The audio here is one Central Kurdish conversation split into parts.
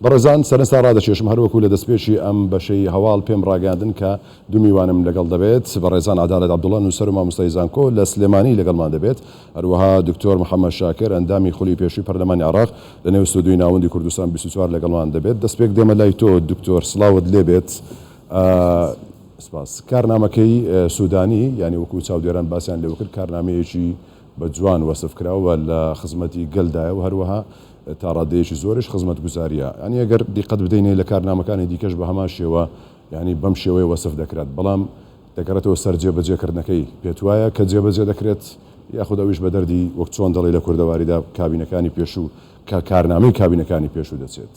بەڕێزان سەرنجتان ڕادەکێشم هەر وەکو لە دەستپێکی ئەم بەشەی هەواڵ پێم ڕاگەیاندن کە دوو میوانم لەگەڵ دەبێت، بەڕێزان عەدالەت عەبدوڵا نووسەر و مامۆستای زانکۆ لە سلێمانی لەگەڵمان دەبێت، هەروەها دکتۆر محەمەد شاکر ئەندامی خولی پێشووی پەرلەمانی عێراق لە نێو ستۆدیۆی ناوەندی کوردستان بیست و چوار لەگەڵمان دەبێت، دەستپێک دێمە لای تۆ دکتۆر سڵاوت لێ بێت سپاس. کارنامەکەی سودانی یانی وەکو چاودێران باسیان لێوەکرد کارنامەیەکی بە جوان وەسف کرا و لە خزمەتی گەلدایە و هەروەها تا ڕادەیەکی زۆریش خزمەتگوزارییە. یانی ئەگەر دیقەت بدەینێ لە کارنامەکانی دیکەش بە هەمان شێوە یانی بەم شێوەیە وەسف دەکرات، بەڵام دەگەڕێتەوە سەر جێبەجێکردنەکەی. پێتوایە کە جێبەجێ دەکرێت؟ یاخود ئەویش بە دەردی وەک چۆن دەڵێی لە کوردەواریدا کابینەکانی پێشوو کە کارنامەی کابینەکانی پێشوو دەچێت؟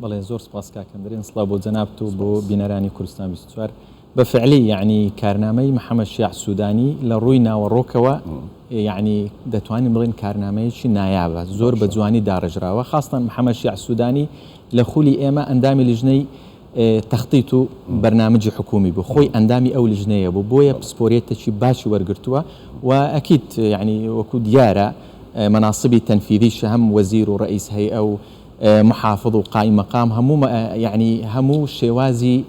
بەڵێ زۆر سوپاس کاک ئەندرێن سڵاو بۆ جەنابت و بۆ بینەرانی کوردستان بیست و چوار. بە فعلی یەعنی کارنامەی محمد شیاع سودانی لە ڕووی ناوەڕۆکەوە یەعنی دەتوانین بڵێین کارنامەیەکی نایابە زۆر بە جوانی داڕێژراوە خاستەن محمد شیاع سودانی لە خولی ئێمە ئەندامی لیژنەی تەختیت و بەرنامجی حکومی بوو خۆی ئەندامی ئەو لیژنەیە بوو بۆیە پسپۆریەتێکی باشی وەرگرتووە و ئەکیت یەعنی وەکو دیارە مەناسبی تەنفیدیش هەم وەزیر و ڕئیس هەیئە و محافظ و قائیممەقام هەموو یەعنی هەموو شێوازی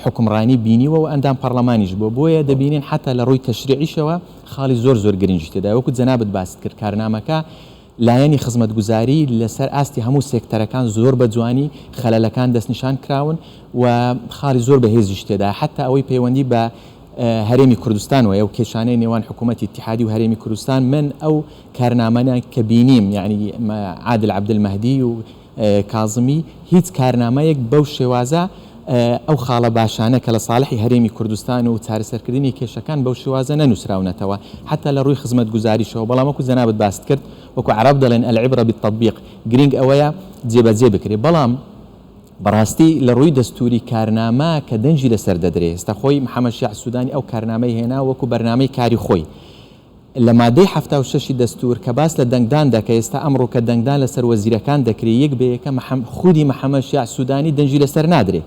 حوکمڕانی بینیوە و ئەندام پەڕڵەمانیش بووە، بۆیە دەبینین حەتا لە ڕووی تەشریعیشەوە خاڵی زۆر زۆر گرنگی تێدایە، وەکو جەنابت باست کرد کارنامەکە لایەنی خزمەتگوزاری لەسەر ئاستی هەموو سێکتەرەکان زۆر بە جوانی خەلەلەکان دەستنیشان کراون و خاڵی زۆر بەهێزیش تێدایە حەتا ئەوەی پەیوەندی بە هەرێمی کوردستان وەیە و کێشانەی نێوان حکوومەتی ئیتیحادی و هەرێمی کوردستان من ئەو کارنامانە کە بینیم یانی عادل عەبدل مەهدی و کازمی، هیچ کارنامەیەک بەو شێوازە ئەو خاڵە باشانە کە لە ساڵحی هەرێمی کوردستان و چارەسەرکردنی کێشەکان بەو شێوازە نەنووسراونەتەوە حەتا لە ڕووی خزمەتگوزاریشەوە، بەڵام وەکو جەنابت باست کرد وەکو عەڕەب دەڵێن، العبرە بالتطبیق، گرینگ ئەوەیە جێبەجێ بکرێ، بەڵام بەڕاستی لە ڕووی دەستووری کارنامە کە دەنگی لەسەر دەدرێ، ئێستا خۆی محەمەد شیاع سودانی ئەو کارنامەی هێنا وەکو بەرنامەی کاری خۆی، لە مادەی حەفتا و شەش ی دەستور کە باس لە دەنگدان دە کە ئێستا ئەمڕو کە دەنگدان لە سەر وەزیرەکان دەکرێ یەک بە یەکە محم خودی محمد شیاع سودانی دەنگی لە سەر نادرێ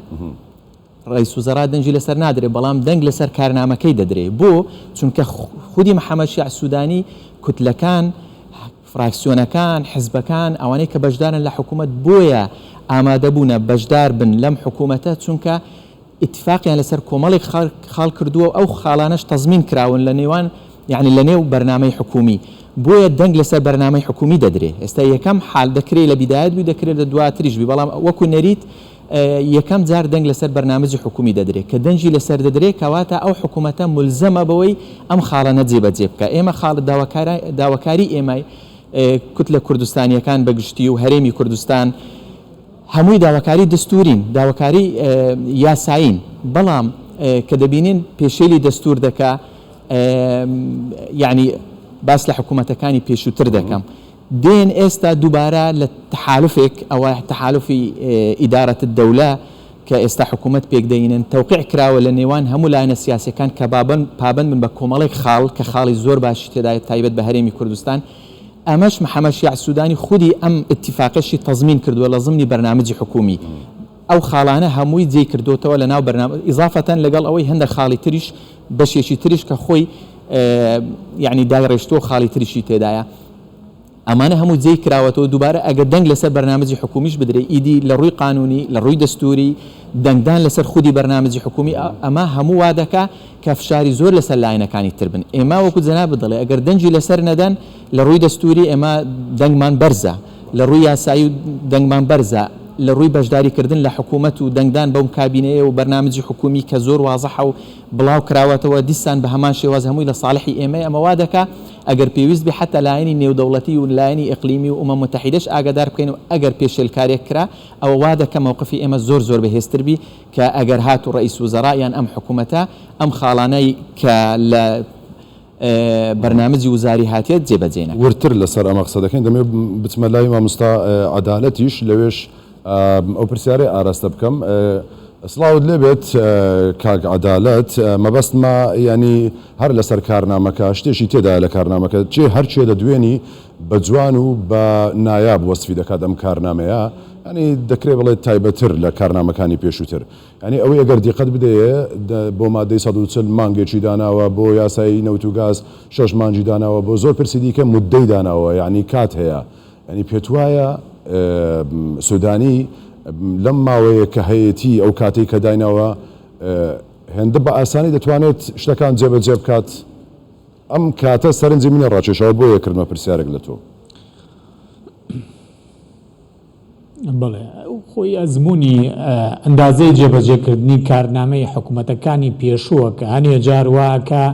ڕئیس وزەڕا دەنگی لە سەر نادرێ بەڵام دەنگ لە سەر کارنامەکەی دەدرێ بۆ چونکە خودی محمد شیاع سودانی کوتلەکان فراکسیۆنەکان حزبەکان ئەوانەی کە بەشدارن لە حکومەت بۆیە ئامادە بونە بەشدار بن لەم حکومەتە چونکە ئیتیفاقیان لەسەر کۆمەڵێک خاڵ کردووە و ئەو خاڵانەش تەزمین کراون لە نێوان یانی لە نێو بەرنامەی حکوومی بۆیە دەنگ لەسەر بەرنامەی حکوومی دەدرێ ئێستا یەکەم حال دەکرێ لە بیدایەت بووی دەکرێت لە دواتریش بی بەڵام وەکو نەریت یەکەم جار دەنگ لەسەر بەرنامەجی حکوومی دەدرێت کە دەنگی لەسەر دەدرێت کەواتە ئەو حکوومەتە ملزەمە بەوەی ئەم خاڵەنە جێبەجێ بکە ئێمە خاڵ داواکاری ئێمای کوتلە کوردستانیەکان بەگشتی و هەرێمی کوردستان هەمووی داواکاری دەستوورین، داواکاری یاسایین، بەڵام کە دەبینین پێشێلی دەستوور دەکا، یانی باس لە حکوومەتەکانی پێشووتر دەکەم، دێن ئێستا دووبارە لە تەحالوفێک، ئەوە تەحالوفی ئیدارەت الدەولە کە ئێستا حکوومەت پێک دەینن، تەوقیع کراوە لە نێوان هەموو لایەنە سیاسییەکان کە پابەند بن بە کۆمەڵێک خاڵ کە خاڵی زۆر باشی تێدایە تایبەت بە هەرێمی کوردستان، ئەمەش محەمەد شیاع سودانی خودی ئەم ئیتیفاقەشی تەزمین کردووە لە زمنی بەرنامجی حکوومی. ئەو خاڵانە هەمووی جێی کردۆتەوە لە ناو بەرنامە ئیزافەتەن لەگەڵ ئەوەی هەندێک خاڵی تریش بەشێکی تریش کە خۆی یعنی دایڕێشتووە خاڵی تریشی تێدایە ئەمانە هەموو جێی کراوەتەوە دووبارە ئەگە دەنگ لەسەر بەرنامەجی حکومیش بدرێ ئیدی لە ڕووی قانونی لە ڕووی دەستوری دەنگدان لەسەر خودی بەرنامەجی حکومی ئەمە هەموو وا دەکا کە فشاری زۆر لەسەر لایەنەکانی تر بن. ئێمە وەکو جەنابت دەڵێ ئەگەر دەنگی لەسەر نەدەن لە رووی دەستووری ئێمە دەنگمان بەرزە، لە رووی یاسایی و دەنگمان بەرزە، لە رووی بەشداری کردن لە حکوومەت و دەنگدان بەو کابینەیە و بەرنامجی حکوومی کە زۆر وازحە و بڵاو کراوەتەوە دیسان بە هەمان شێواز هەمووی لە ساڵحی ئێمەیە ئەمە وا دەکا ئەگەر پێویست بێ حەتا لایەنی نێودەوڵەتی و لایەنی ئیقلیمی و ئومەم موتەحیدەش ئاگادار بکەین و ئەگەر پێشێلکارێک کرا ئەوە وا دەکا مەوقفی ئێمە زۆر زۆر بەهێزتر بی کە ئەگەر هاتوو ڕەئیس وزەڕا یان ئەم حکوومەتە ئەم خاڵانەی کە لە بەرنامجی وزاری هاتێت جێ بەجێ نەکا. وردتر لەسەر ئەمە قسە دەکەین، دەمەوێت بچمە لای مامۆستا عەدالەتیش لەوێش ئەو پرسیارەی ئاراستە بکەم. سڵاوت لێ بێت کاک عەدالەت، مەبەستمە یانی هەر لەسەر کارنامەکە شتێکی تێدایە لە کارنامەکە چێ هەر کێ دەدوێنی بە جوان و بە نایاب وەسفی دەکات ئەم کارنامەیە یانی دەکرێ بڵێ تایبەت تر لە کارنامەکانی پێشوتر یانی ئەوەی ئەگەر دیقەت بدەیێ بۆ مادەی سەد و چل مانگێکی داناوە بۆ یاسای نەوت و گاز شەش مانگی داناوە بۆ زۆر پرسی دیکە مودەی داناوە یانی کات هەیە یانی پێتوایە سودانی لەم ماوەیە کە هەیەتی ئەو کاتەی کە دایناوە هێندە بە ئاسانی دەتوانێت شتەکان جێبەجێ بکات ئەم کاتە سەرنجی منی ڕاکێشاوە بۆیە کردمە پرسیارێک لە تۆ. بەڵێ خۆی ئەزمونی ئەندازەی جێبەجێکردنی کارنامەی حکومەتەکانی پێشووە کە هەنێ جار واکە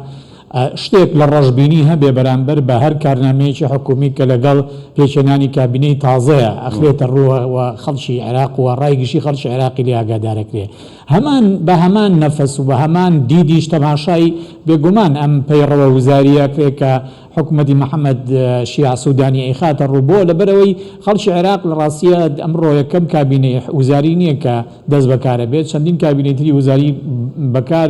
شتێک لە ڕەشببینی هەبێ بەرامبەر بە هەر کارنامەیەکی حکومی کە لەگەڵ پێچێنانی کابینەی تازەیە ئەخرێتە ڕووەوە خەڵکی عێراق و ڕای گشتی خەڵکی عێراقی لێ ئاگادارەکرێ. هەمان بە هەمان نەفەس و بە هەمان دیدیش تەماشای بێ گومان ئەم پەیڕەوە وزارییە کرێ کە حکومەتی محەمەد شیاع سوودانی ئەیخاتە ڕوو بۆ لەبەرەوەی خەڵکی عێراق لە ڕاستییە ئەمڕۆ یەکەم کابینەی وزاری نییە کە دەست بەکارە بێت چەندین کابینەی تری وزاری بەکار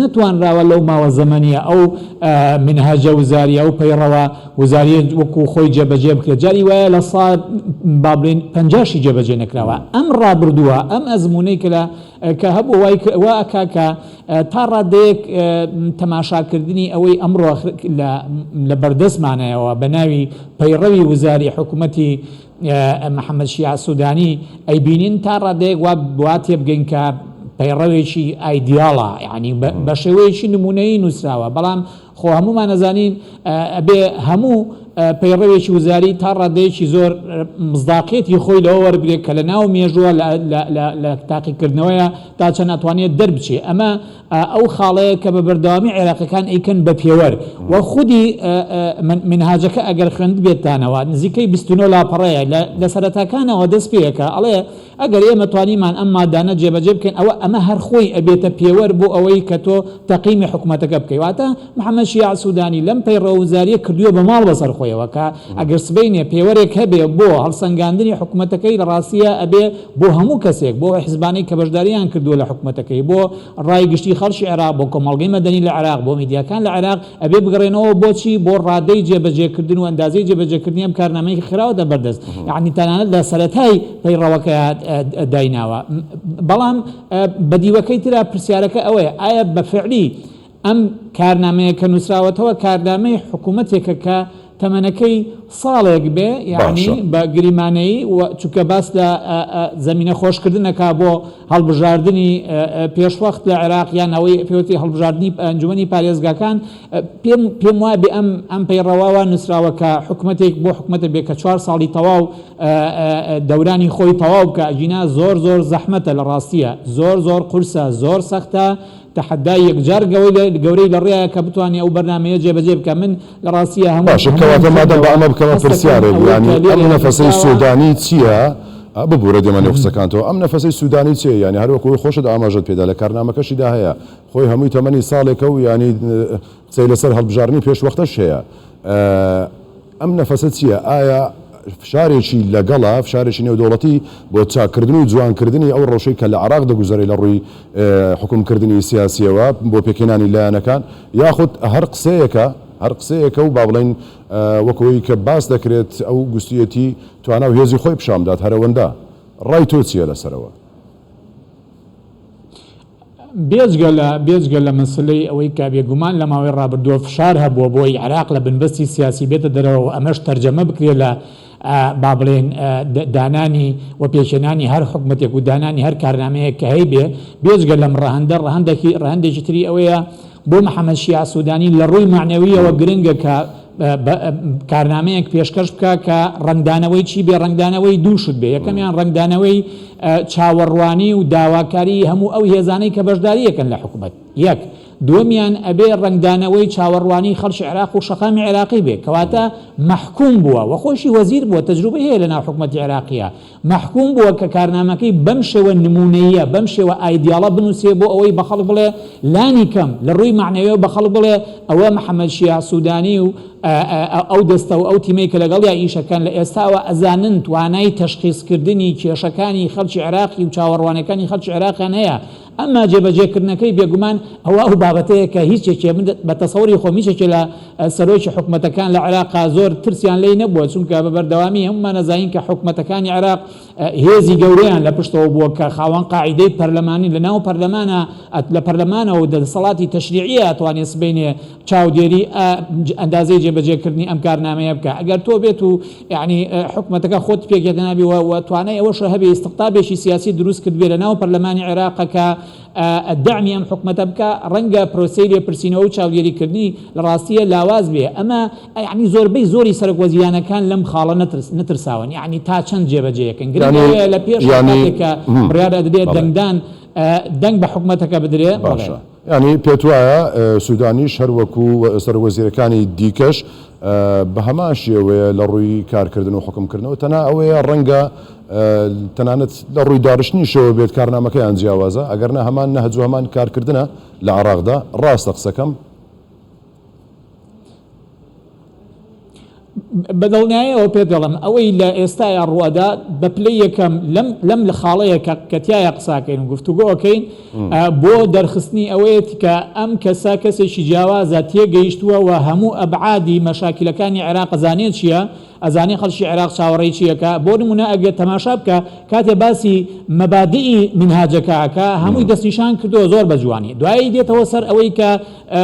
نەتوانراوە لەو ماوە زەمەنیە ئەو منهەجە وزاریە ئەو پەیڕەوە وزاریە وەکو خۆی جێبەجێ بکرێت جاری وایە لە سا بابلین پەنجاشی جێبەجێ نەکراوە ئەم ڕابردووە ئەم ئەزمونەی کرا کە هەبوو وای واکە کە تا ڕادەیەک تەماشاکردنی ئەوەی ئەمڕۆ لە بەردەستمانەوە بە ناوی پەیڕەوی وزاری حکوومەتی محەمەد شیاع سودانی، ی بینین تا ڕادەیەک وا وا تێبگەین کە پەیڕەوێکی ئایدیاڵە یانی بە شێوەیەکی نمونەیی نووسراوە بەڵام خۆ هەمومان ئەزانین ئەبێ هەموو پەیڕەوێکی وزاری تا ڕادەیەکی زۆر مزداقیەتی خۆی لەوە وەربگرێت کە لە ناو مێژووە لە تاقیکردنەوەیە تا چەند ئەتوانێت دەربچێ ئەمە ئا ئەو خاڵەیە کە بە بەردەوامی عێراقیەکان ئەیکەن بە پێوەر و خودی مینهاجەکە ئەگەر خوێندبێتانەوە نزیکەی بیست و نۆ لاپەڕەیە لە لە سەرەتاکانەوە دەست پێیەکە ئەڵێ ئەگەر ئێمە توانیمان ئەم مادانە جێبەجێ بکەین ئەوە ئەمە هەر خۆی ئەبێتە پێوەر بۆ ئەوەی کە تۆ تەقیمی حکومەتەکە بکەی واتە محەمەد شیاع سودانی لەم پەیڕەوە وزاریە کردوە بە ماڵ بەسەر خۆیەوە کە ئەگەر سبەینێ پێوەرێک هەبێ بۆ هەڵسەنگاندنی حکومەتەکەی لە ڕاستیە ئەبێ بۆ هەموو کەسێک بۆ ئەو حزبانەی کە بەشداریان کردوە لە حکومەتەکەی بۆ ڕای گشتی خەڵکی عێراق بۆ کۆمەڵگەی مەدەنی لە عێراق بۆ میدیاکان لە عێراق ئەبێ بگەڕێنەوە بۆ چی بۆ ڕادەی جێبەجێکردن و ئەندازەی جێبەجێکردنی ئەم کارنامەی کە خراوەتە بەردەست یەعنی تەنانەت لە سەرەتای پەیڕەوەکەیا دایناوە بەڵام بە دیوەکەی ترا پرسیارەکە ئەوەیە ئایا بە فعلی ئەم کارنامەیە کە نووسراوەتەوە کارنامەی حکوومەتێکە کە تەمەنەکەی ساڵێک بێ یانی باشە. بە گریمانەیی و چونکە باس لە زەمینە خۆشکردن ئەکا بۆ هەڵبژاردنی پێشوەخت لە عێراق یان ئەوەی پێوتی هەڵبژاردنی ئەنجومەنی پارێزگاکان پێم پێم وابێ ئەم ئەم پەیڕەواوە نووسراوە کە حکوومەتێک بۆ حکوومەتە بێ کە چوار ساڵی تەواو دەورانی خۆی تەواو بکە ئەگینا زۆر زۆر زەحمەتە لە ڕاستیە زۆر زۆر قورسە زۆر سەختە تەحەدای یەکجار گەورەی لە ڕێیە کە بتوانێ ئەو بەرنامەیە جێبەجێ بکا من لە ڕاستیە هەموو باشە کەواتە مادەم با ئەمە بکەمە پرسیارێک یانی ئەم نەفەسەی سودانی چیە ببورە دێمە نێو قسەکانتەوە ئەم نەفەسەی سودانی چیە یانی هەر وەکو خۆشت ئاماژەت پێدا لە کارنامەکەشیدا هەیە خۆی هەمووی تەمەنی ساڵێکە و یانی قسەی لەسەر هەڵبژاردنی پێشوەختەش هەیە ئەم نەفەسە چییە؟ ئایا فشارێکی لەگەڵە، فشارێکی نێودەوڵەتی بۆ چاککردن و جوانکردنی ئەو ڕەوشەی کە لە عێراق دەگوزەرێ لە ڕووی حوکمکردنی سیاسییەوە بۆ پێکهێنانی لایەنەکان؟ یاخود هەر قسەیەکە؟ هەر قسەیەکە و با بڵێین وەک ئەوەی کە باس دەکرێت ئەو گوستویەتی توانا و هێزی خۆی پیشان بدات هەرەوەندە؟ ڕای تۆ چییە لەسەرەوە؟ بێجگە لە بێجگە لە مەسەلەی ئەوەی کە بێگومان لە ماوەی ڕابردووە فشار هەبووە بۆی عێراق لە بنبەستی سیاسی بێتە دەرەوە و ئەمەش تەرجەمە بکرێت لە با بڵێن دانانی و پێکهێنانی هەر حکومەتێک و دانانی هەر کارنامەیەک کە هەیبێ بێجگە لەم ڕەهەندە ڕەهەندێکی ڕەهەندێکی تری ئەوەیە بۆ محەمەد شیاع سودانی لە ڕووی مەعنەویەوە گرنگە کە کارنامەیەک پێشکەش بکە کە ڕەنگدانەوەی چی بێ ڕەنگدانەوەی دوو شت بێ یەکەمیان ڕەنگدانەوەی چاوەڕوانی و داواکاری هەموو ئەو هێزانەی کە بەشداریەکەن لە حکوومەت یەک دووەمیان ئەبێ ڕەنگدانەوەی چاوەڕوانی خەڵکی عێراق و شەقامی عێراقی بێ کەواتە مەحکوم بووە وە خۆشی وەزیر بووە تەجروبە هەیە لە ناو حکوومەتی عێراقیە مەحکووم بووە کە کارنامەکەی بەم شێوە نموونەییە، بەم شێوە ئایدیاڵە بنووسێ بۆ ئەوەی بە خەڵک بڵێ، لانی کەم لە ڕووی مەعنەویەوە بە خەڵک بڵێ ئەوە محەمەد شیاع سوودانی و ئەو دەستە و ئەو تیمەی کە لەگەڵیا ئیش ئەکەن لە ئێستاوە ئەزانن توانای تەشخیسکردنی کێشەکانی خەڵکی عێراقی و چاوەڕوانییەکانی خەڵکی عێراقیان هەیە، ئەمما جێبەجێ کردنەکەی بێگومان ئەوە ئەو بابەتەیە کە هیچ یەکێ من بە تەسەوری خۆم هیچ یەکێ لە سەرۆکی حکومەتەکان لە عێراقا زۆر ترسیان لێی نەبووە چونکە بە بەردەوامی هەموومان ئەزانین کە حکومەتەکانی عێراق هێزی گەورەیان لە پشتەوە بووە کە خاوەن قاعیدەی پەرلەمانین لە ناو پەرلەمانە لە پەرلەمانەوە و دەسەڵاتی تەشریعیە ئەتوانێ سبەینێ چاودێری ئەندازەی جێبەجێ کردنی ئەم کارنامەیە بکا ئەگەر تۆ بێت و یەعنی حکومەتەکە خۆت پێک یەکنابی و و توانای ئەوەشە هەبێ ئیستقطابێکی سیاسی دروست کرد بێ لە ناو پەرلەمانی عێراقە کە ئە، دەعمی ئەم حکومەتە بکا، ڕەنگە پرۆسەی لێپرسینەوە و چاودێریکردنی لە ڕاستییە لاواز بێ، ئەمە یەعنی زۆربەی زۆری سەرۆک وەزیرانەکان لەم خاڵە نەترس، نەترساون یەعنی تا چەند جێبەجێ یەکەن، گرنگ یەعنی، ئەوەیە لە پێشا یەعنی، کاتێک کە بڕیار ئەدرێ بەڵێ. دەنگدان ئە، دەنگ بە حکومەتەکە بدرێ، بەڵێ. باشە. یانی پێت وایە سودانیش هەر وەکو سەرۆکوەزیرەکانی دیکەش بە هەمان شێوەیە لە ڕووی کارکردن و حوکمکردنەوە تەنها ئەوەیە ڕەنگە تەنانەت لە ڕووی داڕشتنیشەوە بێت کارنامەکەیان جیاوازە ئەگەرنا هەمان نەهج و هەمان کارکردنە لە عێراقدا ڕاستە قسەکەم؟ بەدڵنیایەوە پێت دەڵم ئەوەی لە ئێستایا ڕوەدا بە پلی یەکەم لەم لە خاڵەیە کە کەتیایە قساکەین و گفتوگۆکەین بۆ دەرخستنی ئەوەیەت کە ئەم کەسا کەسێکی جیاوازە تێگەیشتووە و هەموو ئەبعادی مەشاکلەکانی عێراق زانێت چییە ئەزانێ خەڵکی عێراق چاوەڕێی چی ئەکا؟ بۆ نموونە ئەگەر تەماشا بکە کاتێ باسی مەبادئی مینهاجەکە ئەکا هەمووی دەستنیشان کردووە زۆر بە جوانی دوایی دێتەوە سەر ئەوەی کە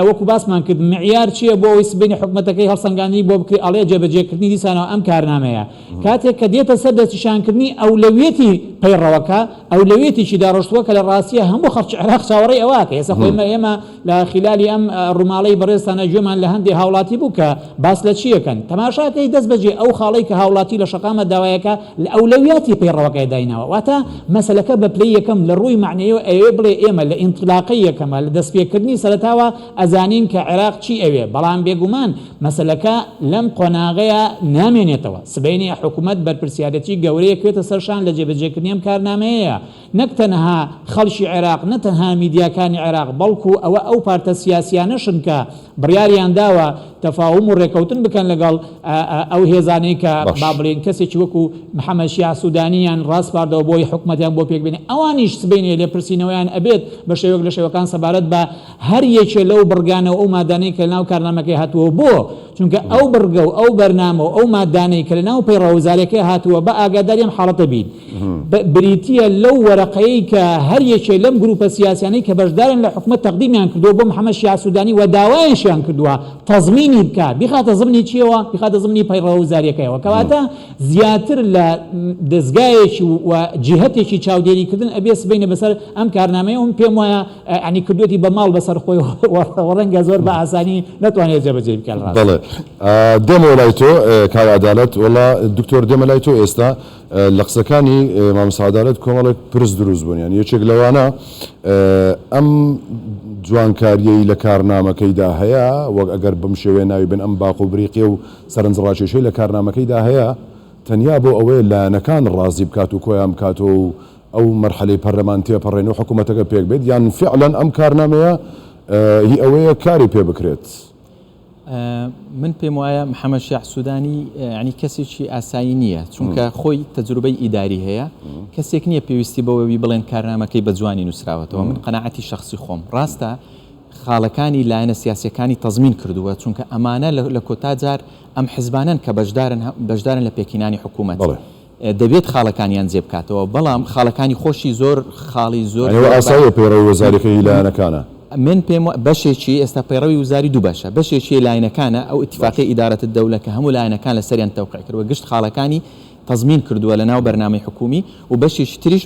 وەکو باسمان کرد معیار چییە بۆ ئەوەی سبەینێ حکومەتەکەی هەڵسەنگاندنی بۆ بکرێ ئەڵێ جێبەجێکردنی دیسانەوە ئەم کارنامەیە کاتێک کە دێتە سەر دەستنیشانکردنی ئەولەویەتی پەیڕەوەکە ئەولەویەتێکی داڕشتووە کە لە ڕاستییە هەموو خەڵکی عێراق چاوەڕێی ئەوە ئەکا ئێستا خۆ ئێمە لە خیلالی ئەم ڕوماڵەی بەڕێزتانە گوێمان لە هەندێ هاوڵاتی بوو کە باس لە چیەکەن تەماشاکەی دەست بەجێ ئەو خاڵەی کە هاوڵاتی لە شەقامە داوایەکە لە ئەولەویاتی پەیڕەوەکەی دایناوە واتە مەسەلەکە بە پلەی یەکەم لە ڕووی مەعنەیەوە ئەیەوێ بڵێ ئێمە لە ئینتلاقەی یەکەمە لە دەستپێکردنی سەرەتاوە ئەزانین کە عێراق چی ئەوێ بەڵام بێگومان مەسەلەکە لەم قۆناغەیە نامێنێتەوە سبەینێ حکومەت بەرپرسیارەتی گەورەیە کرێتە سەرشان لە جێبەجێکردنی ئەم کارنامەیە نەک تەنها خەڵکی عێراق، نە تەنها میدیاکانی عێراق، بەڵکو ئەوە ئەو پارتە سیاسیانەشن کە بڕیاریان داوە تەفاهوم و رێکەوتن بکەن لەگەڵ ئەو هێزانەی کە با بڵێین کەسێکی وەکو محەمەد شیاع سودانییان راسپاردەوە بۆی حکومەتیان بۆ پێکبێنێ، ئەوانیش سبەینێ لێپرسینەوەیان ئەبێت بە شێوەک لە شێوەکان سەبارەت بە هەر یەکێ لەو بڕگانە و ئەو مادانەی کە لەناو کارنامەکەی هاتووە بۆ چونکە ئەو بڕگە و ئەو بەرنامە و ئەو ماددانەی کە لە ناو پەیڕەوە وزارەکەی هاتووە بە ئاگاداری ئەم حاڵەتە بین، بریتییە لەو وەرەقەیەی کە هەر یەکێ لەم گرووپە سیاسییانەی کە بەشدارن لە حکومەت تەقدیمیان کردووە بۆ محەمەد شیاع سوودانی و داوایشیان کردووە تەزمینی بکات بیخاتە زمنی چییەوە؟ بیخاتە زمنی پەیڕەوە وزارییەکەیەوە. کەواتە زیاتر لە دەزگایەکی و جیهەتێکی چاودێریکردن ئەبێ سبەینێ بەسەر ئەم کارنامەیە و من پێم وایە یانی کردویەتی بە ماڵ بەسەر خۆی و ڕەنگە زۆر بە ئاسانی نەتوانێت جێبەجێی بکات ڕاست. بەڵێ دێمەوە لای تۆ کاک عەدالەت. وەڵا دکتۆر دێمە لای تۆ ئێستا لە قسەکانی مامۆستا عەدالەت کۆمەڵێک پرس دروست بوون یانی یەکێک لەوانە ئەم جوانکاریەی لە کارنامەکەیدا هەیە وەک ئەگەر بەم شێوەیە ناوی بن ئەم باق و بریقی و سەرنج ڕاکێشەی لە کارنامەکەیدا هەیە تەنیا بۆ ئەوەیە لایەنەکان ڕازی بکات و کۆیان بکاتەوە و ئەو مەرحەلەی پەرلەمان تێپەڕێن و حکومەتەکە پێک بێت یان فیعلەن ئەم کارنامەیە هی ئەوەیە کاری پێ بکرێت؟ من پێم وایە محەممەد شیاع سوودانی ینی کەسێکی ئاسایی نییە چونکە خۆی تەجروبەی ئیداری هەیە کەسێک نییە پێویستی بەوەوی بڵێن کارنامەکەی بە جوانی نووسراوەتەوە من قەنەعەتی شخصی خۆم ڕاستە خاڵەکانی لایەنە سیاسەکانی تەزمین کردووە چونکە ئەمانە لە کۆتا جار ئەم حزبانن کە بەشدارن بەشدارن لە پێکینانی حکوومەت دەبێت خاڵەکانیان جێ بکاتەوە بەڵام خاڵەکانی خۆشی زۆر خاڵی زۆر ئەوە ئاساییە پەیڕەوی وزاریەکەی لایەنەکانە. من پێم وا بەشێکی ئێستا پەیڕەوی وزاری دوو بەشە بەشێکی لایەنەکانە ئەو باش. ئتیفاقیە ئدارەت الدولە کە هەموو لایەنەکان لە سەریان تەوقیع کردوە گشت خاڵەکانی تەزمین کردوە لە ناو بەرنامەی حکومی و بەشێکی تریش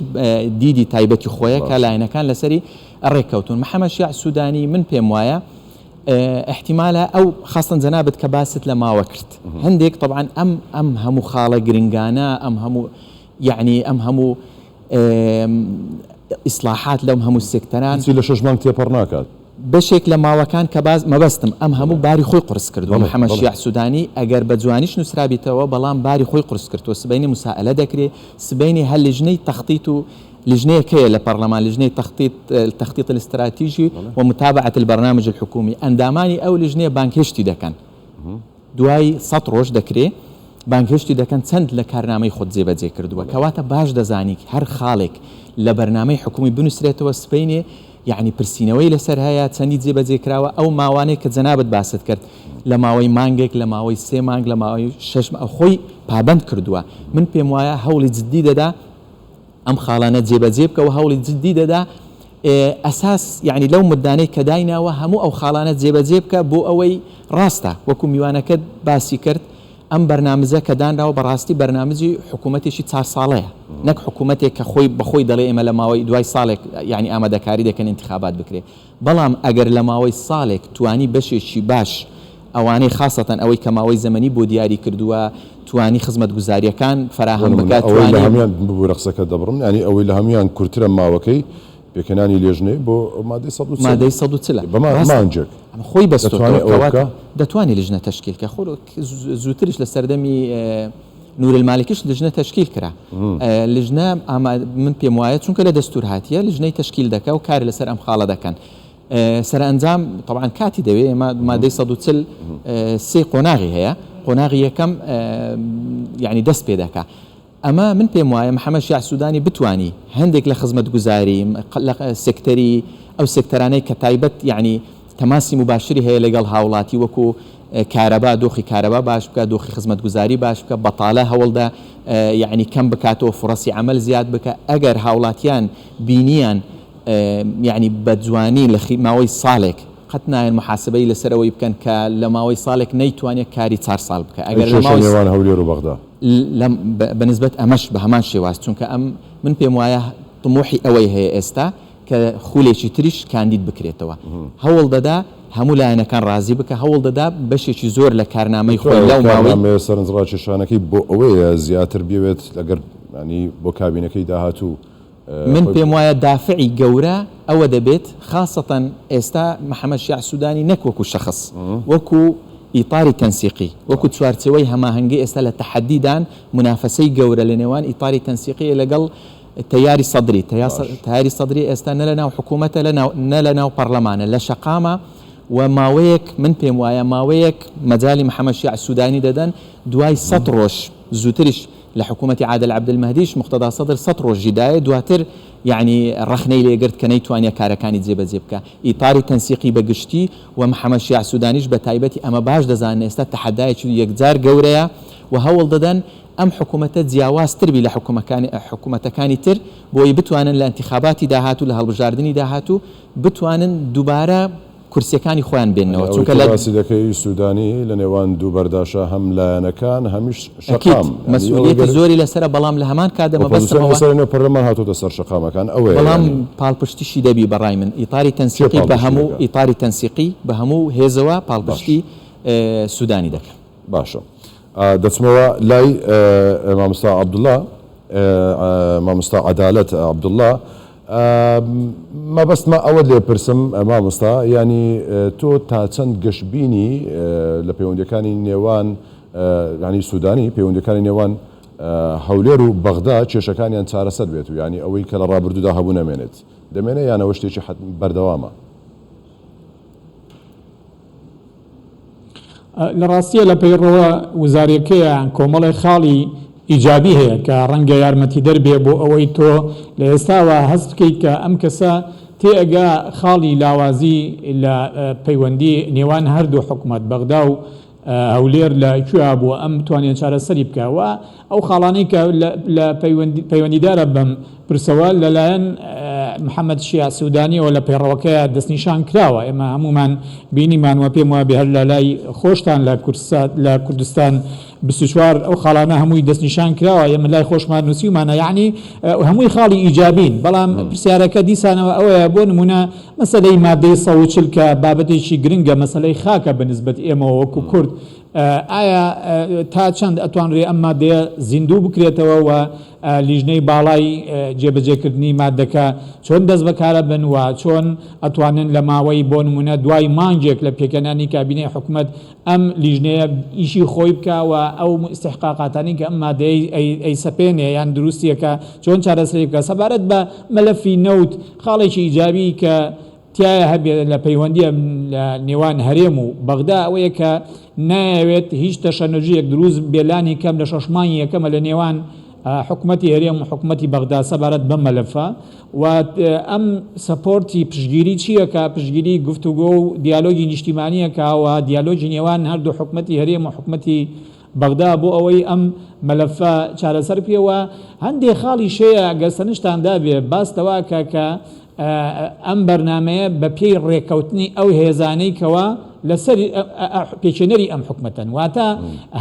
دیدی تایبەتی خۆیە کە باش. لایەنەکان لەسەری ڕێک کەوتون محمد شیاع سودانی من پێم وایە ئیحتیمالە ئەو خاستەن جەنابت کە باست لە ماوە کرد هەندێک طبعاً ئەم ئەم هەموو خاڵە گرنگانە ئەم هەموو یعنی ئەم هەموو ئیسلاحات لەم هەموو سێکتەران هیچی لە شەش مانگ تێپەڕ ناکات بەشێک لە ماوەکان کە باز مەبەستم ئەم هەموو باری خۆی قورس کردووە بەڵێ، محەممەد بەڵێ. شیاع سوودانی ئەگەر بە جوانیش نووسرابیتەوە بەڵام باری خۆی قورس کردووە سبەینێ موسائەلە دەکرێ سبەینێ هەر لیژنەی تەخطیط و لیژنەیەک هەیە لە پەڕلەمان لیژنەی تەخطیط التخطیط الاستراتیژی و متابعة البرنامج الحکومی ئەندامانی ئەو لیژنەیە بانگهێشتی دەکەن دوای سەد ڕۆژ دەکرێ بانگهێشتی دەکەن چەند لە کارنامەی خۆت جێبەجێ کردووە کەواتە باش دەزانی هەر خاڵێک لە بەرنامەی حکومی بنووسرێتەوە سبەینێ یعنی پرسینەوەی لەسەر هەیە چەندی جێبەجێ کراوە ئەو ماوانەی کە جەنابت باست کرد لە ماوەی مانگێک لە ماوەی سێ مانگ لە ماوەی شەش مانگ خۆی پابەند کردووە من پێم وایە هەوڵی جددی دەدا ئەم خاڵانە جێبەجێ بکە و هەوڵی جددی دەدا ئەساس یعنی لەو مدانەی کە دایناوە هەموو ئەو خاڵانە جێبەجێ بکە بۆ ئەوەی ڕاستە وەکو میوانەکەت باسی کرد ئەم بەرنامزە کە دانراوە بەڕاستی بەرنامجی حکوومەتێکی چار ساڵەیە نەک حکوومەتێک کە خۆی بەخۆی دەڵێ ئێمە لە ماوەی دوای ساڵێک یعنی ئامادەکاری دەکەن انتخابات بکرێ بەڵام ئەگەر لە ماوەی ساڵێک توانی بەشێکی باش ئەوانەی خاسەتەن ئەوەی کە ماوەی زەمەنی بۆ دیاری کردووە توانی خزمەتگوزارییەکان بۆ فەراهەم نموونە بکات ئەوەی لە توانی هەموویان ببورە قسەکەت دەبڕم یانی ئەوەی لە هەموویان کورترە ماوەکەی پێکهێنانی لێژنەی بۆ مادەی سەد و چل مادەی سەد و چل بە ما ڕاستە مانگێک ئەمە خۆی بەستۆتەوە دەتوانێ ئەوە کەواتە بکا؟ دەتوانی لیژنە تەشکیل کە خۆ زووتریش لە سەردەمی نورالمالکیش لجنە تەشکیل کرا لجنە ئاما من پێم وایە چونکە لە دەستور هاتیە لجنەی تەشکیل دەکا و کار لەسەر ئەم خاڵە دەکەن سەرئەنجام طبعا کاتی دەوێ ئێمە مادەی 140 سێ قۆناغی هەیە قۆناغی یەکەم یعنی دەست پێ دەکا ئەمە من پێم وایە محەممەد شیع سوودانی بتانی هەندێک لە خزمەت گوزاری لە سکتەری ئەو سکتەرانەی کە تایبەت یعنی تەماسی مباشری هەیە لەگەڵ هاوڵاتی وەکو کارەبا دۆخی کارەبا باش بکە دۆخی خزمەتگوزاری باش بکە بەتاالە هەوڵدە یعنی کەم بکاتەوە فرەسی ئەمەل زیاد بکە ئەگەر هاوڵاتیان بینیان یعنی بەجوانی لە ماوەی ساڵێک قەت نایەن محاسبەی لەسەرەوەی بکەن کە لە ماوەی ساڵێک نەیتوانێت کاری چار ساڵ بکە ئەگەر لە ماوەی نێوان هەولێر و بەغدا لەم بەنسبەت ئەمەش بە هەمان شێواز چونکە ئەم من پێم وایە طموحی ئەوەی هەیە ئێستا کە خولێکی تریش کاندید بکرێتەوە هەوڵ دەدا هەموو لایەنەکان ڕازی بکا هەوڵ دەدا بەشێکی زۆر لە کارنامەی خۆی لەو ماوەی. کارنامەیە سەرنجڕاکێشانەکەی بۆ ئەوەیە زیاتر بیەوێت ئەگەر یانی بۆ کابینەکەی داهاتوو. من پێم وایە دافعی گەورە ئەوە دەبێت خاسەتەن ئێستا محەمەد شیاع سودانی نەک وەکو شەخس وەکو ئیتاری تەنسیقی وەکو چوارچێوەی هەماهەنگی ئێستا لە تەحەددی دان منافەسەی گەورە لە نێوان ئیتاری تەنسیقی لەگەڵ تەیاری سەدری، تەیاری سەدری ئێستا نە لەناو حکوومەتە نە لەناو پەڕلەمانە، لە شەقامە و ماوەیەک من پێم وایە ماوەیەک مەجالی محەمەد شیاع سوودانی دەدەن، دوای سەد ڕۆژ، زووتریش لە حکوومەتی عادل عەبدولمەهدیش موقتەدا سەدر سەد ڕۆژی دایە، دواتر یەعنی ڕەخنەی لێ گرت کە نەیتوانییە کارەکانی جێبەجێ بکا. ئیتاری تەنسیقی بە گشتی و محەمەد شیاع سوودانیش بە تایبەتی ئەمە باش دەزانن ئێستا تەحەدایەکی یەکجار گەورەیە و هەوڵ دەدەن ئەم حکومەتە جیاوازتر بی لە حکومەتەکانی تر بۆی بتوانن لە ئینتیخاباتی داهاتوو لە هەڵبژاردنی داهاتوو بتوانن دوبارە کورسیەکانی خۆیان بێننەوە چونکە لە ئەوەی تۆ باسی دەکەی سودانی لە نێوان دوو بەرداشە هەم لایەنەکان هەمیش شەقام یانی ئەوەی گەر ئۆپۆزسیۆن لە سەر نێو پەرلەمان هاتۆتە سەر شەقامەکان ئەوەیە یانی چیە پاڵپشتی دەکەن؟ باشە. دەچمەوە لای ماموستا عبداللە ماموستا عدالەت عبداللە مەبەستمە ئەوەت لێ پرسم ماموستا یانی تۆ تا چەند گەش بینی لە پەیوەندەکانی نێوان ینی سودانی پەیوەندەکانی نێوان هەولێر و بەغدا کێشەکانیان چارەسەر بێت و ینی ئەوەی کە لە ڕابردوودا هەبوو نەمێنێت دەمێنێ یانەوە شتێکی حەت بەردەوامە. لە ڕاستیە لە پەیڕەوە وزاریەکەیە کۆمەڵێ خاڵی ئیجابی هەیە کە ڕەنگە یارمەتیدەر بێ بۆ ئەوەی تۆ لە ئێستاوە هەست بکەیت کە ئەم کەسە تێئەگا خاڵی لاوازی لە پەیوەندی نێوان هەردوو حکومەت بەغدا و هەولێر لە کوێا بووە ئەم بتوانێت چارەسەری بکە و ئەو خاڵانەی کە لە پەیوەندیدارە بەم پرسەوە لەلایەن محەممەد شیاع سوودانیەوە لە پەیڕەوەکەیە دەستنیشان کراوە، ئێمە هەموومان بینیمان و پێم وابێ هەر لە لای خۆشتان لە کوردسات لە کوردستان بیست و چوار ئەو خاڵانە هەمووی دەستنیشان کراوە، ئێمە لای خۆشمان نووسیومانە یەعنی هەمووی خاڵی ئیجابین، بەڵام پرسیارەکە دیسانەوە ئەوەیە بۆ نموونە مەسەلەی مادەی سەد و چل کە بابەتێکی گرنگە مەسەلەی خاکە بە نیسبەت ئێمەوە وەکوو کورد، ئایا تا چەند ئەتوانرێ ئەم ماددەیە زیندوو بکرێتەوە و لیژنەی باڵای جێبەجێکردنی ماددەکە چۆن دەست بەکارەبن و چۆن ئەتوانن لە ماوەی بۆ نموونە دوای مانگێک لە پێکهێنانی کابینەی حکومەت ئەم لیژنەیە ئیشی خۆی بکا و ئەو ئیستحقاقاتانی کە ئەم ماددەیەی ئەیسەپێنێ یان دروستییەکە چۆن چارەسەری بکا سەبارەت بە مەلەفی نەوت خاڵێکی ئیجابی کە تایە هەبێت لە پەیوەندییە لە نێوان هەرێم و بەغدا ئەوەیە کە نایەوێت هیچ تەشەنەجویەک دروست بێ لانی کەم لە شەش مانگی یەکەمە لە نێوان حکومەتی هەرێم و حکومەتی بەغدا سەبارەت بەم مەلەفە و ئەم سەپۆرتی پشگیری چییە کە پشگیری گفتوگۆ و دیالۆگی نیشتیمانیەکە و دیالۆگی نێوان هەردوو حکومەتی هەرێم و حکومەتی بەغدا بۆ ئەوەی ئەم مەلەفە چارەسەر بکرێت و هەندێ خاڵیش هەیە گەر سەرنجتان دابێ باس تەواکە کە ئەم بەرنامەیە بە پێی ڕێکەوتنی ئەو هێزانەی کەوا لەسەر پێچێنەری ئەم حکومەتەن واتە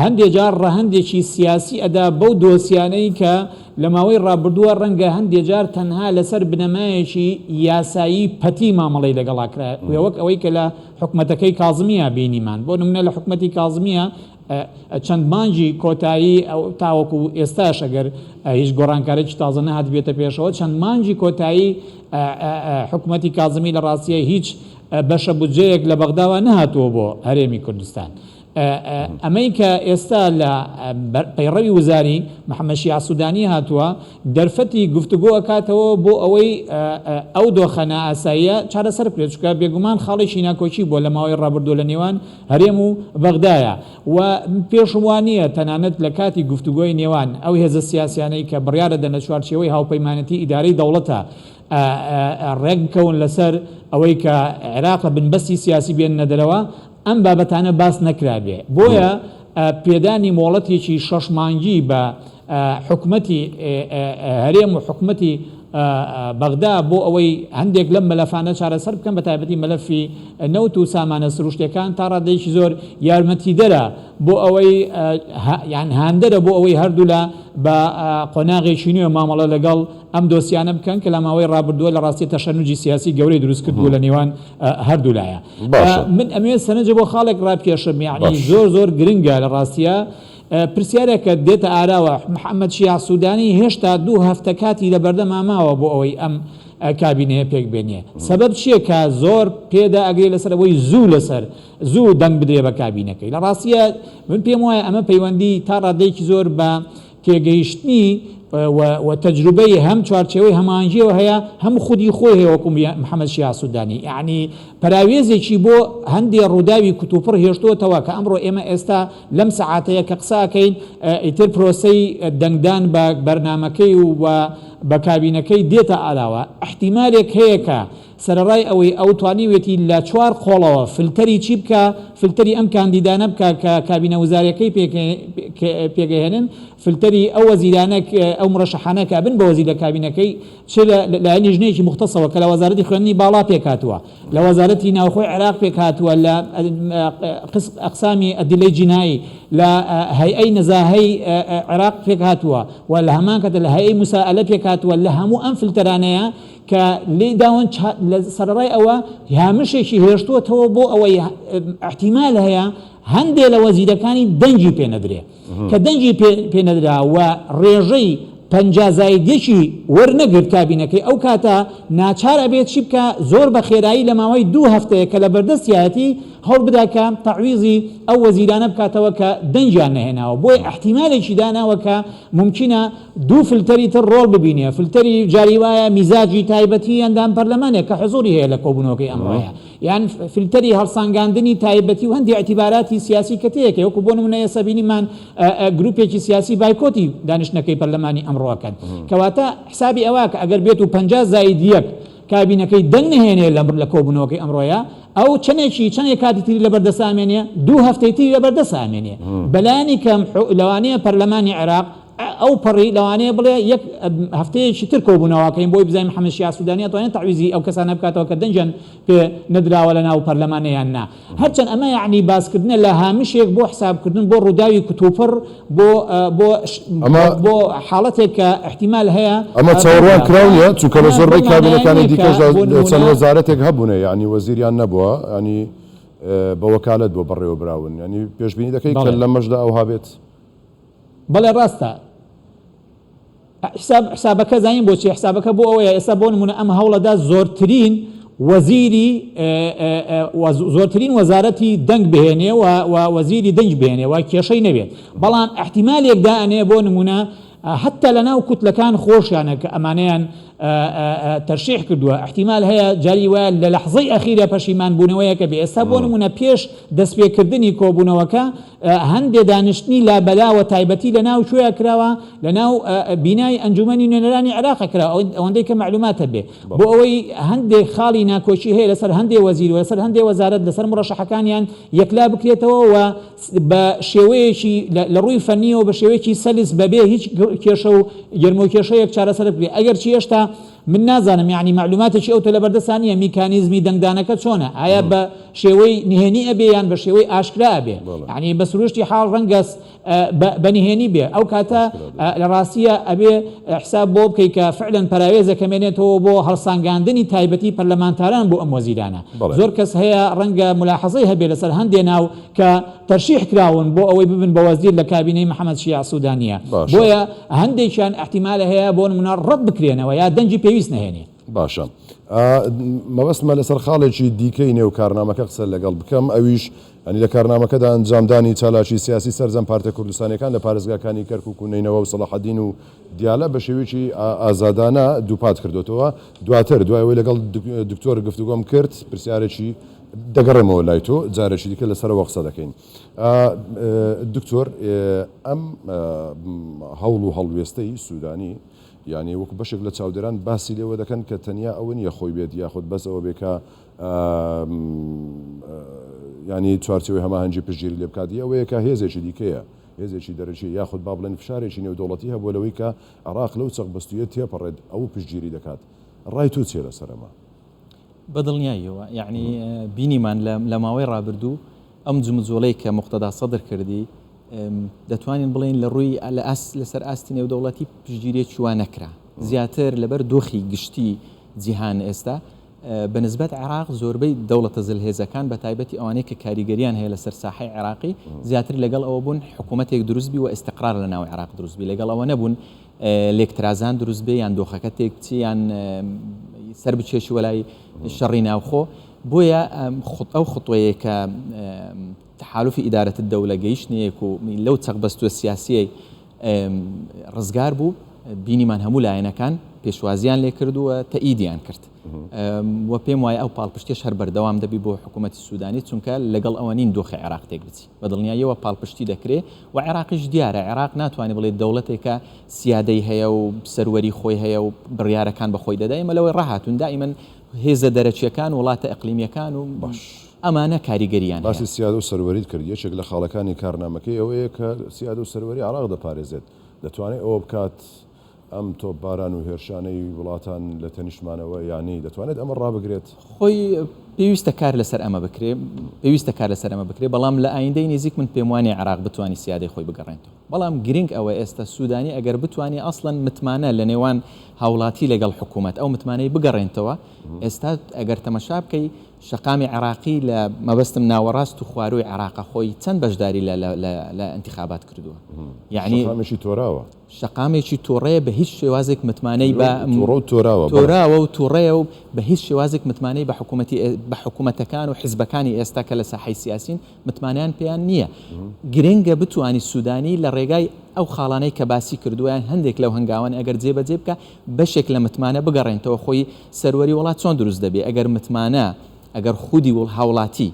هەندێ جار ڕەهندێکی سیاسی ئەدا بەو دۆسیانەی کە لە ماوەی ڕابردووە ڕەنگە هەندێ جار تەنها لەسەر بنەمایەکی یاسایی پەتی مامەڵەی لەگەڵاکرا وەک ئەوەی کە لە حکومەتەکەی کازمییە بینیمان بۆ نمونە لە حکومەتی کازمییە چەند مانگی کۆتایی تاوەکو ئێستاش ئەگەر هیچ گۆڕانکارێکی تازە نەهات بێتە پێشەوە چەند مانگی کۆتایی حکومەتی کازمی لە ڕاستیە هیچ بەشە بودجەیەک لە بەغداوە نەهاتووە بۆ هەرێمی کوردستان ئەمەی کە ئێستا لە پەیڕەوی وزاری، محەمەد شیاع سودانی، هاتووە، دەرفەتی گفتوگۆ ئەکاتەوە بۆ ئەوەی ئەو دۆخە نائاساییە چارەسەر بکرێت، چونکە بێگومان خاڵێکی ناکۆکی بووە لە ماوەی ڕابردووە لە نێوان هەرێم و بەغدایا و پێشم وا نییە تەنانەت لە کاتی گفتوگۆی نێوان ئەو هێزە سیاسیانەی کە بڕیارە دەنە چوارچێوەی هاوپەیمانێتی ئیدارەی دەوڵەتە ڕێک بکەون لەسەر ئەوەی کە عێراق لە بنبەستی سیاسی بێننە دەرەوە، ئەم بابەتانە باس نەکرابێ بۆیە پێدانی مۆڵەتێکی شەش مانگی بە حکومەتی هەرێم و حکومەتی بەغدا بۆ ئەوەی هەندێک لەم مەلەفانە چارەسەر بکەن بە تایبەتی مەلەفی نەوت و سامانە سروشتەکان تا ڕادێکی زۆر یارمەتیدەرە بۆ ئەوەی یان هاندەرە بۆ ئەوەی هەردوولا بە قۆناغێکی نوێ مامەڵە لەگەڵ ئەم دۆسیانە بکەن کە لەماوەی ڕابردووە لە ڕاستی تەشەنوجی سیاسی گەورەی دروست کردووە لە نێوان هەردوو لایە من ئەمێ سەنەجە بۆ خاڵێک ڕابکێشم یعنی زۆر زۆر گرنگە لە ڕاستە پرسیارێکە دێتە ئاراوە محەممەد شیع سوودانی هێشتا دوو هەفتە کاتی لە بەردە ماماوە بۆ ئەوەی ئەم کابینەیە پێک بێنێ سبب چییە کە زۆر پێدا ئەگرێ لەسەر ئەوەی زوو لەسەر زوو دەنگ بدرێ بە کابینەکەی لە ڕاستە من پێم وایە ئەمە پەیوەندی تا ڕادێکی زۆر بە تێگەیشتنی و تەجروبەی هەم چوارچێوەی هەماهەنگیەوە هەیە هەم خودی خۆی هەیە وەکو محەمەد شیاع سودانی یەعنی پەراوێزێکی بۆ هەندێ ڕووداوی کوتوپڕ هێشتووەتەوە کە ئەمڕۆ ئێمە ئێستا لەم سەعاتەیە کە قسە ئەکەین ئیتر پرۆسەی دەنگدان بە بەرنامەکەی و بە کابینەکەی دێتە ئاراوە احتیمالێک هەیە کە سەرەڕای ئەوەی ئەو توانیویەتی لە چوار قۆڵەوە فلتەری چی بکا، فلتەری ئەم کاندیدانە بکا کە کابینە وزاریەکەی پێکئهێنن، فلتەری ئەو وەزیرانە ئەو مرەشەحانە کە ئەبن بە وەزیر لە کابینەکەی، چ لە لایەن لیژنەیەکی موختەسەوە کە لە وەزارەتی خوێندنی باڵا پێکهاتووە، لە وەزارەتی ناوخۆی عێراق پێکهاتووە، لە ئەقسامی ئەدلەی جینایی، لە هەیئەی نەزاهەی عێراق پێکهاتووە و لە هەمان کاتدا لە هەیئەی موسائەلە پێکهاتووە، لە هەموو ئەم فلتەرانەیە، کە لێیداون چا لە سەرەڕای ئەوە هامشێکی هێشتووەتەوە بۆ ئەوەی ئەحتیمال هەیە هەندێ لە وەزیرەکانی دەنگی پێ نەدرێ کە دەنگی پێ نەدرا و ڕێژەی پەنجا زاید یەکی وەرنەگرت کابینەکەی ئەو کاتە ناچار ئەبێت چی بکا زۆر بە خێرایی لە ماوەی دوو هەفتەیە کە لە بەردەستیایەتی هەوڵ بدا کە تەعویزی ئەو وەزیرانە بکاتەوە کە دەنگیان نەهێناوە بۆیە ئەحتیمالێکی داناوە کە مومکینە دوو فلتەری تر ڕۆڵ ببینێ، فلتەری جاری وایە میزاجی تایبەتی ئەندام پەرلەمانێک کە حزوری هەیە لە کۆبونەوەکەی ئەمڕۆیە، یان فلتەری هەڵسانگاندنی تایبەتی و هەندێ ئیعتیباراتی سیاسی کە تێک هەیە، وەکو بۆ نمونە ئێستا بینیمان گروپێکی سیاسی بایکۆتی دانیشتنەکەی پەرلەمانی ئەمڕۆ ئەکەن، کەواتە حسابی ئەوە کە ئەگەر بێتو پەنجا زائید یەک کابینەکەی دەنگ نەهێنێ لە کۆبونەوەکەی ئەمڕۆیە، ئەو چەندێکی چەندێ کاتی تری لە بەردەست ئەمێنێ؟ دوو هەفتەی تری لە بەردەست ئەمێنێ، بەلانی کەم لەوانەیە پەرلەمانی عێراق، ئەوپەڕی لەوانەیە بڵێ یەک هەفتەیەکی تر کۆبوونەواکەین بۆی بزانین محەمەد شیاع سودانی ئەتوانێت تەعویزی ئەو کەسانە بکاتەوە کە دەنگیان پێ نەدراوە لە ناو پەرلەمانە یان نا هەرچەند ئەمە یەعنی باسکردنە لە هامشێک بۆ حسابکردن بۆ ڕووداوی کوتوپڕ بۆ بۆ بۆ حاڵەتێک کە احتیمال هەیە ئەمە چاوەڕوان کراو نیە چونکە لە زۆربەی کابینەکانی دیکەشدا چەند وەزارەتێک هەبوونە یەعنی وەزیریان نەبووە ینی بە وەکالەت بۆ بەڕێوەبراون ینی پێشبینی دەکەی کە لەمەشدا ئەوها بێت؟ بەڵێ ڕاستە حساب حسابەکە زانین بۆچی حسابەکە بۆ ئەوەیە ئێستا بۆ نمونە ئەم هەوڵەدا زۆرترین وەزیری زۆرترین وەزارەتی دەنگ بهێنێ و وەزیری دەنگ بێنێ و کێشەی نەبێت بەڵام احتیمالێک دانێ بۆ نمونە حتا لە ناو کوتلەکان خۆشیانە کە ئەمانیان تەرشیح کردووە احتیمال هەیە جاری وایە لە لەحزەی ئەخیرە پەشیمان بوونەوەیەکە بێ ئێستا بۆ نمونە پێش دەستپێکردنی کۆبوونەوەکە هەندێ دانیشتنی لابەلا وە تایبەتی لە ناو کوێ کراوە لە ناو بینای ئەنجومەنی نوێنەرانی عێراق کرا ئەوەندەی کە معلومات هەبێ بۆ ئەوەی هەندێ خاڵی ناکۆکی هەیە لەسەر هەندێ وەزیر وەسەر هەندێ وەزارت لەسەر مڕەشەحەکانیان یەکلا بکرێتەوە و بە شێوەیەکی لە ڕووی فەنیەوە بە شێوەیەکی سەلیس بەبێ هیچ کێشە و گرمۆکێشەیەک چارەسەر بێ ئەگەر چی هێشتا من نازانم یەعنی مەعلوماتێکی ئەو تۆ لەبەردەستا نیە میکانیزمی دەنگدانەکە چۆنە ئایا بە شێوەی نهێنی ئەبێ یان بە شێوەی ئاشکرا ئەبێ یەعنی بە سروشتی حاڵ ڕەنگە بە نهێنی بێ ئەو کاتە لە ڕاستیە ئەبێ حساب بۆ بکەی کە فعلەن پەراوێزە کەمێنێتەوە بۆ هەڵسانگاندنی تایبەتی پەرلەمانتاران بۆ ئەم وەزیرانە زۆر کەس هەیە ڕەنگە ملاحەزەی هەبێ لەسەر هەندێ ناو کە تەرشیح کراون بۆ ئەوەی ببن بە وەزیر لە کابینەی محەمەد شیاع سودانییە، باشە. بۆیە هەندێکیان ئیحتیمالە هەیە بۆ نمونە ڕەت بکرێنەوە یا دەنگی پێویست نەهێنێ. باشە ئا مەبەستمە لەسەر خاڵێکی دیکەی نێو کارنامەکە قسە لەگەڵ بکەم ئەویش یانی لە کارنامەکەدا ئەنجامدانی چالاکی سیاسی سەرجەم پارتە کوردستانیەکان لە پارێزگاکانی کەرکوک و نەینەوا و سەڵاحەدین و دیالە بە شێوەیەکی ئا ئازادانە دووپات کردۆتەوە دواتر دوای ئەوەی لەگەڵ دک دکتۆر گفتوگۆم کرد پرسیارێکی دەگەڕێمەوە لای تۆ جارێکی دیکە لەسەرەوە قسە دەکەین دکتۆر ئەم هەوڵ و هەڵوێستەی سوودانی یعنی وەکو بەشێک لە چاودێران باسی لێوە دەکەن کە تەنیا ئەوە نیە خۆی بێت یاخود بەس ئەوە بێکە ینی چوارچەوەی هەماهەنگی پشتگیری لێ بکاتی ئەوەیە کە هێزێکی دیکەیە هێزێکی دەرەکی یاخود با بڵێن فشارێکی نێودوڵەتی هەبوو لەوەی کە عراق لەو چەق بەستویە تێپەڕێت ئەو پشتگیری دەکات ڕای تو چێ لەسەرەمە بە دڵنیاییەوە یەعنی بینیمان لە ماوەی ڕابردوو ئەم جموجۆڵەی کە موقتەدا سەدر کردی دەتوانین بڵێن لە ڕووی لە ئاست لەسەر ئاستی نێودەوڵەتی پشتگیریەکی وا نەکرا زیاتر لەبەر دۆخی گشتی جیهان ئێستا بە نسبەت عێراق زۆربەی دەوڵەتە زلهێزەکان بە تایبەتی ئەوانەی کە کاریگەریان هەیە لەسەر ساحی عێراقی زیاتر لەگەڵ ئەوە بوون حکوومەتێک دروستبی و ئێستقرار لە ناو عێراق دروستبی لەگەڵ ئەوە نەبوون لێکترازان دروست بێ یان دۆخەکە تێک بچی یان سەر بچێشی وەلای شەڕی ناوخۆ بۆیە خود ئەو خطوەیە کە تحالفی ئیدارەت دەولە گەیشتنیەک و لەو چەق بەستوە سیاسیی ڕزگار بوو بینیمان هەموو لایەنەکان پێشوازیان لێ کردووە تەئیدیان کرد و پێم وایە ئەو پاڵپشتێش هەر بەردەوام دەبی بۆ حکوومەتتی سوودانی چونکە لەگەڵ ئەوە نین دۆخی عێراق تێک بچی بە دڵنیاییەوە پاڵپشتی دەکرێ و عێراقیش دیارە، عێراق ناتوانێ بڵێ دەوڵەتێکە سیادەی هەیە و سەروەری خۆی هەیە و بڕیارەکان بە خۆی دەدا، ئێمە لەوەی ڕاهاتوون دائیمەن هێزە دەرەکییەکان، وڵاتە ئیقلیمییەکان و ئەمانە کاریگەرییان هەیە. باسی سیادە و سەروەریت کرد، یەکێک لە خاڵەکانی کارنامەکەی ئەوەیە کە سیادە و سەروەری عێراق دەپارێزێت، دەتوانێ ئەوە بکات، ئەم تۆپباران و هێرشانەی وڵاتان لە تەنیشتمانەوە یانی دەتوانێت ئەمە ڕابگرێت؟ خۆی پێویستە کار لەسەر ئەمە بکرێت، پێویستە کار لەسەر ئەمە بکرێت، بەڵام لە ئایندەی نزیک من پێم وانیە عێراق بتوانی سیادەی خۆی بگەڕێنتەوە، بەڵام گرنگ ئەوە ئێستا سودانی ئەگەر بتوانی ئەسڵەن متمانە لە نێوان هاوڵاتی لەگەڵ حکومەت ئەو متمانەی بگەڕێنتەوە، ئێستا ئەگەر تەمەشا بکەی شەقامی عێراقی لە مەبەستم ناوەڕاست و خوارووی عێراقە خۆی چەند بەشداری لە لە ئینتیخابات کردووە یانی. شەقامێکی تۆراوە. شەقامێکی توڕەیە بە هیچ شێوازێک متمانەی بە توڕە و تۆراوە بەڵێ. تۆراوە و توڕەیە و بە هیچ شێوازێک متمانەی بە حکوومەتی ئێ بە حکوومەتەکان و حیزبەکانی ئێستا کە لە ساحەی سیاسین متمانەیان پێیان نییە. گرنگە بتوانی سوودانی لە ڕێگای ئەو خاڵانەی کە باسی کردووە یان هەندێک لەو هەنگاوانە ئەگەر جێ بە جێ بکا بەشێک لە متمانە بگەڕێنتەوە خۆی سەروەری وڵات چۆن دروست دەبێ ئەگەر متمانە ئەگەر خودی هاوڵاتی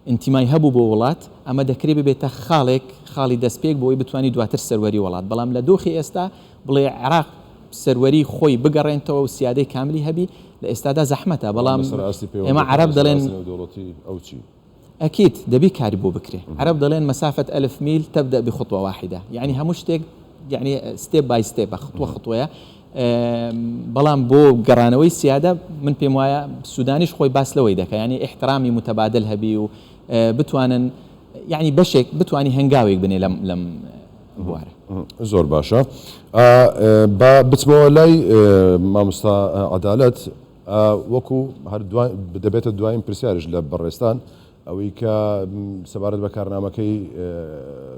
ئینتیمای هەبوو بۆ وڵات، ئەمە دەکرێ ببێتە خاڵێک، خاڵی دەستپێک بۆ ئەوەی بتوانی دواتر سەروەری وڵات، بەڵام لە دۆخی ئێستا بڵێ عێراق سەروەری خۆی بگەڕێنتەوە و سیادەی کاملی هەبی لە ئێستادا زەحمەتە، بەڵام ئێمە عەرەب دەڵێن. ئەکید دەبی کاری بۆ بکرێ، عەرەب دەڵێن مسافە الف میل تبدأ بخطوە واحدە، یەعنی هەموو شتێک یەعنی ستێپ بای ستێپە، خطوە خطوەیە. بەڵام بۆ گەڕانەوەی سیادە من پێم وایە سودانیش خۆی باس لەوەی دەکە یعنی ئیحترامی متبادل هەبی و بتوانن یعنی بەشێک بتانی هەنگاوێک بنێ لەم لەم بوارە زۆر باشە با بچمەوە لای مامستا عدالت وەکو هەر دەبێتە دوایین پرسیارش لە بەڕێستان ئەوەی کە سەبارەت بە کارنامەکەی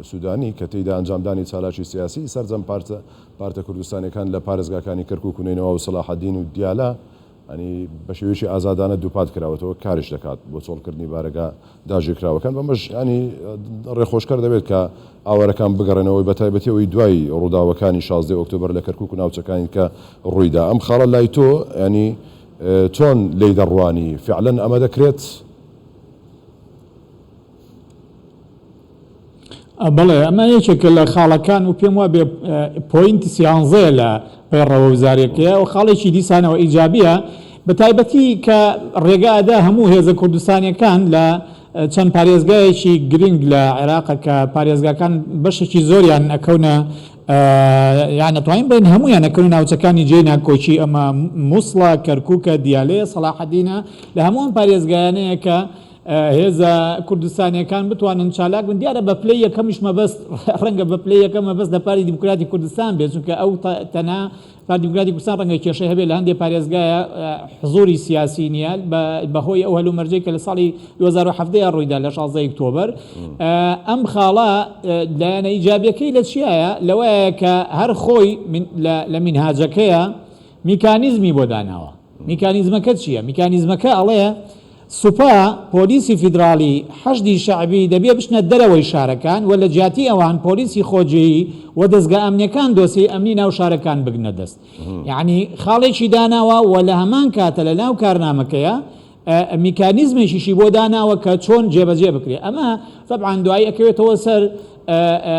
سوودانی کە تێیدا ئەنجامدانی چالاکی سیاسیی سەرجەم پارتە پارتە کوردستانییەکان لە پارێزگاکانی کەرکووک و نەینەوا و سەلاحەدین و دیالە ی بە شێوەیەکی ئازادانە دووپات کراوەتەوە کاریش دەکات بۆ چۆڵکردنی بارەگا داگیرکراوەکان بەمەش ی ڕێخۆشکەر دەبێت کە ئاوارەکان بگەڕێنەوە بە تایبەتی ئەوەی دوای ڕووداوەکانی شازدە ی ئۆکتۆبەر لە کەرکووک و ناوچەکانی کە ڕووی دا ئەم خاڵە لای تۆ ی چۆن لێی دەڕوانی فیعلەن ئەمە دەکرێت؟ بەڵێ ئەمە یەکێکە لە خاڵەکان و پێم وابێ پۆینت سیانزەیە لە پەیڕەوە وزارەکەیە و خاڵێکی دیسانەوە ئیجابە بە تایبەتی کە ڕێگادا هەموو هێزە کوردستانیەکان لە چەند پارێزگایەکی گرنگ لە عێراقەکە پارێزگاکان بەشێکی زۆریان ئەکەونە یان ئەتوانین بڵێین هەموویان ئەکەونە ناوچەکانی جێی ناکۆکی ئەمە موسڵە کەرکووکە دیالەیە سەڵاحەدینە لە هەمووان پارێزگایانەیە کە هێزە کوردستانیەکان بتوانن چالاک بن دیارە بە پلی یەکەمیش مەبەست ڕەنگە بە پلی یەکە مەبەست لە پاری دیموکراتی کوردستان بێت چونکە ئەو تەنا پارتی دیموکراتی کوردستان ڕەنگە کێشەی هەبێت لە هەندێک پارێزگایە حزووری سیاسی نییە بەهۆی ئەو هەلومەرجەی کە لە ساڵی 2017 ڕوویدا لە 16 ئۆکتۆبەر ئەم خاڵە لایەنە ئیجابیەکەی لە چیایە لەوەیە کە هەر خۆی لە مینهاجەکەیە میکانیزمی بۆ داناوە میکانیزمەکە چییە میکانیزمەکە ئەڵەیە سوپا، پۆلیسی فیدراڵی، حەشدی شەعبی دەبێ بچنە دەرەوەی شارەکان و لە جیاتی ئەوان پۆلیسی خۆجێی و دەزگا ئەمنیەکان دۆسیەی ئەمنی ناو شارەکان بگرنە دەست. یەعنی خاڵێکی داناوە و لە هەمان کاتە لە ناو کارنامەکەیا میکانیزمێکیشی بۆ داناوە کە چۆن جێبەجێ بکرێ. ئەمە تەبعەن دوایی ئەکەوێتەوە سەر.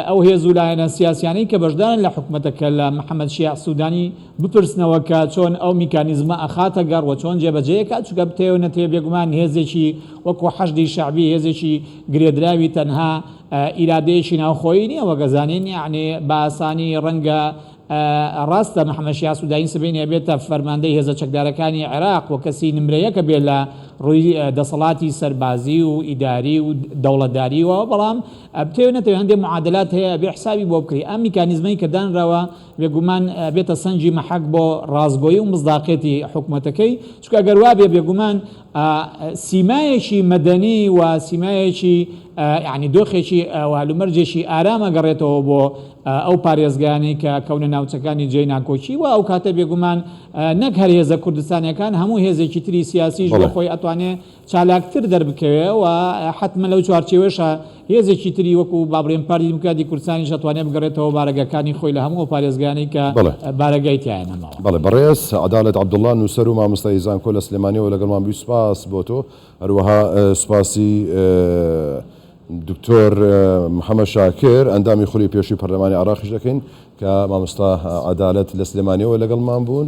ئەو هێز و لایەنە سیاسیانەی کە بەشدارن لە حکومەتەکە لە محەمەد شیاع سودانی بپرسنەوە کە چۆن ئەو میکانیزمە ئەخاتە گەڕ و چۆن جێبەجێ ئەکات چونکە بتەوێ نەتەوێ بێگومان هێزێکی وەکو حەشدی شەعبی هێزێکی گرێدراوی تەنها ئیرادەیەکی ناوخۆیی نییە وەک ئەزانین یەعنی بە ئاسانی ڕەنگە ڕاستە محەمەد شیاع سودانی سبەینێ بێتە فەرماندەی هێزە چەکدارەکانی عێراق و کەسی نمرەیەکە بێ لە ڕووی دەسەڵاتی سەربازی و ئیداری و دەوڵەتداریەوە بەڵام بتەوێ نەتەوێ هەندێ معادلات هەیە ئەبێ حسابی بۆ بکری ئەم میکانیزمەی کە دانراوە بێگومان بێتە سەنجی مەحەک بۆ ڕاستگۆی و مصداقێتی حکومەتەکەی چونکە ئەگەر وابێ بێگومان سیمایەکی مەدەنی و سیمایەکی یعنی دۆخێکی والومەرجێکی ئارام ئەگەڕێتەوە بۆ ئەو پارێزگانەی کە کەونە ناوچەکانی جێ ناکۆکی و ئەو کاتە بێگومان نەک هەر هێزە کوردستانەکان هەموو هێزێکی تری سیاسیش بۆ خۆی ئەتوانێ چالاکتر دەربکەوێ و حەتمەن لەو چوارچێوەیەشا هێزێکی تری وەکوو با بڵێین پارتی دیموکراتی کوردستانیش ئەتوانێ بگەڕێتەوە بارەگاکانی خۆی لە هەموو ئەو پارێزگانەی کە بەڵێ. بارەگای تیایە نەماوە. بەڵێ بەڕێز عەدالەت عەبدوڵا نووسەر و مامۆستای زانکۆ لە سلێمانیەوە لەگەڵمان بوی سوپاس بۆ تۆ هەروەها سوپاسی دکتۆر محمد شاکر ئەندامی خولی پێشوی پەرلەمانی عێراقیش دەکەین کە مامۆستا عەدالەت لە سلێمانیەوە لەگەڵمان بوون.